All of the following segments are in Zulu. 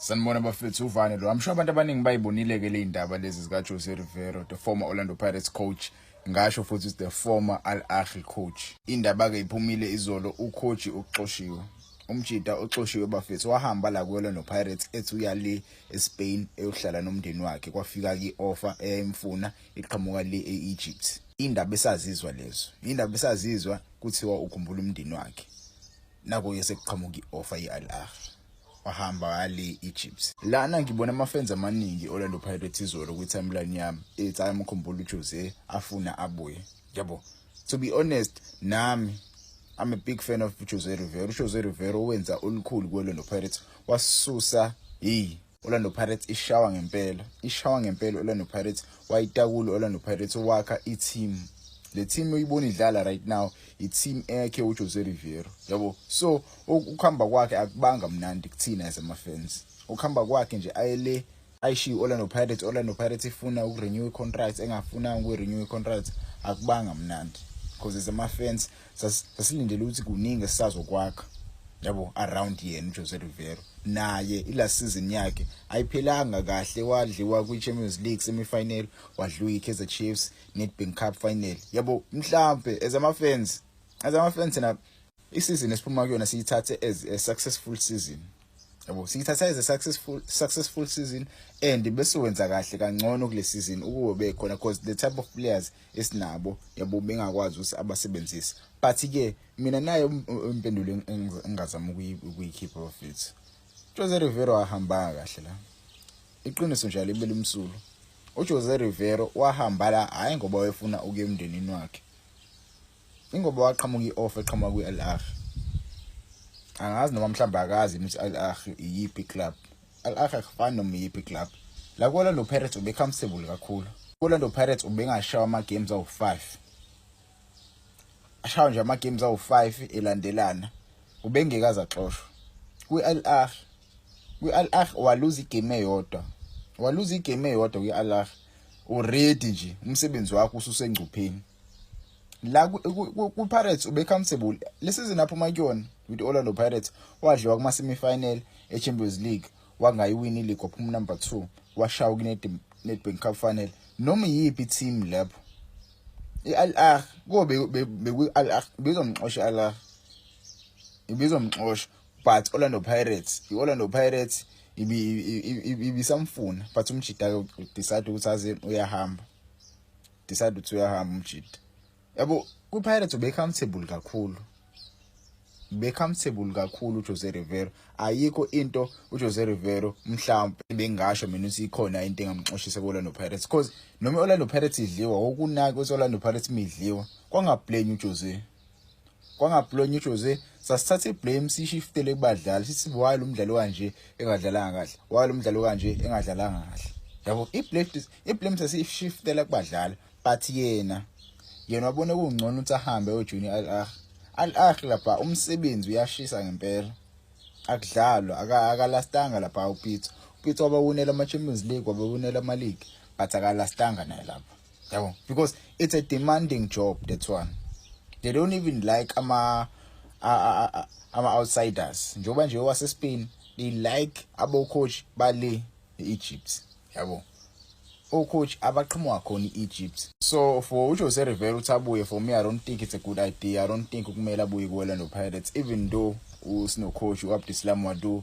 Sanibona bafethu uvane lo. I'm sure abantu abaningi bayibonile ke le indaba lezi zika Jose Rivero, the former Orlando Pirates coach. Ngasho futhi is the former Al Ahly coach. Indaba ke iphumile izolo ucoach uxoshiwe. Umjita oxoshiwe bafethu wahamba la kuwela no Pirates ethi uya le eSpain eyohlala nomndeni wakhe kwafika ki offer eyayimfuna iqhamuka le eEgypt. Indaba esazizwa lezo. Indaba esazizwa kuthiwa ukhumbula umndeni wakhe. Nako yesekuqhamuka ioffer yeAl Ahly. wahamba kale Egypt lana ngibona amafans amaningi Orlando Pirates izolo kwi timeline yami ethi ayamkhumbula uJose afuna abuye yabo to be honest nami I'm a big fan of Jose Rivero. Jose Rivero wenza olukhulu kwelo no Pirates wasusa hey Orlando Pirates ishawa ngempela ishawa ngempela Orlando Pirates wayitakula Orlando Pirates wakha i-team le team oyibona idlala right now i-team ekhe uJose Riveiro yabo so ukuhamba kwakhe akubanga mnandi kuthina as ama-fans ukuhamba kwakhe nje ayele ayishiye Orlando Pirates Orlando Pirates ifuna ukurenew i-contract engafuna ukurenew i-contract akubanga mnandi because as ama-fans sasilindele ukuthi kuningi esisazokwakha yabo around yena uJose Rivero naye ila season yakhe ayiphelanga kahle wadliwa kwiChampions League semifinal wadliwa iKaizer Chiefs Nedbank Cup final yabo mhlambe as ama fans as ama fans na iseason esiphuma kuyona siyithathe as a successful season yabo siyithatha as a successful successful season and bese wenza kahle kangcono kule season ukuwe bekhona because the type of players esinabo yabo bengakwazi ukuthi abasebenzise but ke mina nayo impendulo engingazama ukuyikhipha bafethu Jose Rivero wahamba kahle la iqiniso nje libele umsulu uJose Rivero wahamba la hayi ngoba wefuna ukuya emndenini wakhe ingoba waqhamuka i-offer eqhamuka kwi-al ahli angazi noma mhlawumbe akazi ukuthi al ahli iyiphi club al ahli akufani noma iyiphi club la ku-orlando pirates ubecomfortable kakhulu ku-orlando pirates ubengashawa ama-games awu-five ashawa nje ama-games awu-five elandelana ubengekaze axoshwa kwi-al ahli kwi-al ahli waluza igame eyodwa waluza igame eyodwa kwi-al ahli uready nje umsebenzi wakho ususengcupheni la ku Pirates ube comfortable lesizini aphuma kuyona with Orlando Pirates wadliwa kuma semi final e Champions League wangayiwini league waphuma number 2 washawa kune Nedbank Cup final noma yipi team lapho iAl Ahly kobe beku Al Ahly bezomxosha Al Ahly ibizomxosha but Orlando Pirates iOrlando Pirates ibisamfuna but umjida decide ukuthi aze uyahamba decide ukuthi uyahamba umjidi yabo kwi-pirates ube-comfortable kakhulu be-comfortable kakhulu ujose rivero ayikho into ujose rivero mhlawumpe bengasho mina ukuthi ikhona into engamxoshisa ku-orlando pirates because noma i-orlando pirates idliwa wokunaki ukuthi i-orlando pirates midliwa kwangabhleni ujose kwangablonya uJose sasithatha iblame sishiftele kubadlali sithi why lo mdlali kanje engadlalanga kahle why lo mdlali kanje engadlalanga kahle yabo iblame iblame sasishiftela kubadlali but yena yena wabona kungcono ukuthi ahambe ojuni al ah al ah lapha umsebenzi uyashisa ngempela akudlalwa akalastanga lapha upitso upitso wabawunela ama-champions league wabawunela ama-league but akalastanga naye lapha yabo because it's a demanding job that's one they don't even like ama ama outsiders njengoba nje wase Spain they like abo coach bale Egypt yabo o coach abaqhamuka khona iEgypt so for uJose Rivera uthi abuye for me I don't think it's a good idea I don't think ukumele abuye kuWorld of Pirates even though usino coach uAbdislam Wadu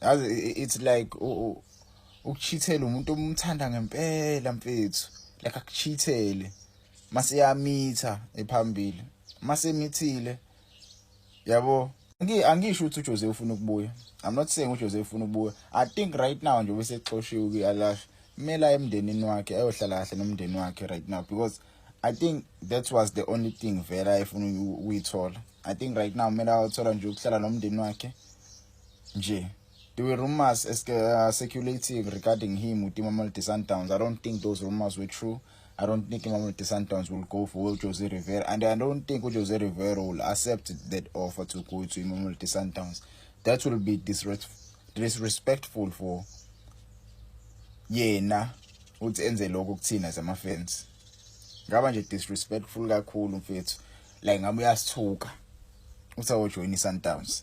yazi it's like ukuchithela umuntu omthanda ngempela mfethu like akuchithele mase yamitha ephambili mase mithile yabo angisho ukuthi uJose ufuna ukubuya i'm not saying uJose ufuna ukubuya i think right now nje bese xoshiwe kuyalash mela emndenini wakhe ayohlala kahle nomndeni wakhe right now because i think that was the only thing vela ayefuna ukuyithola i think right now mela ayothola nje ukuhlala nomndeni wakhe nje there were rumors as uh, circulating regarding him with Imamolde Sundowns I don't think those rumors were true I don't think Imamolde Sundowns will go for Jose Rivera and I don't think Jose Rivera will accept that offer to go to Imamolde Sundowns that will be disrespectful for yena uthi enze lokho kuthina zama fans ngaba nje disrespectful kakhulu mfethu like ngabe uyasithuka uthi awojoyina iSundowns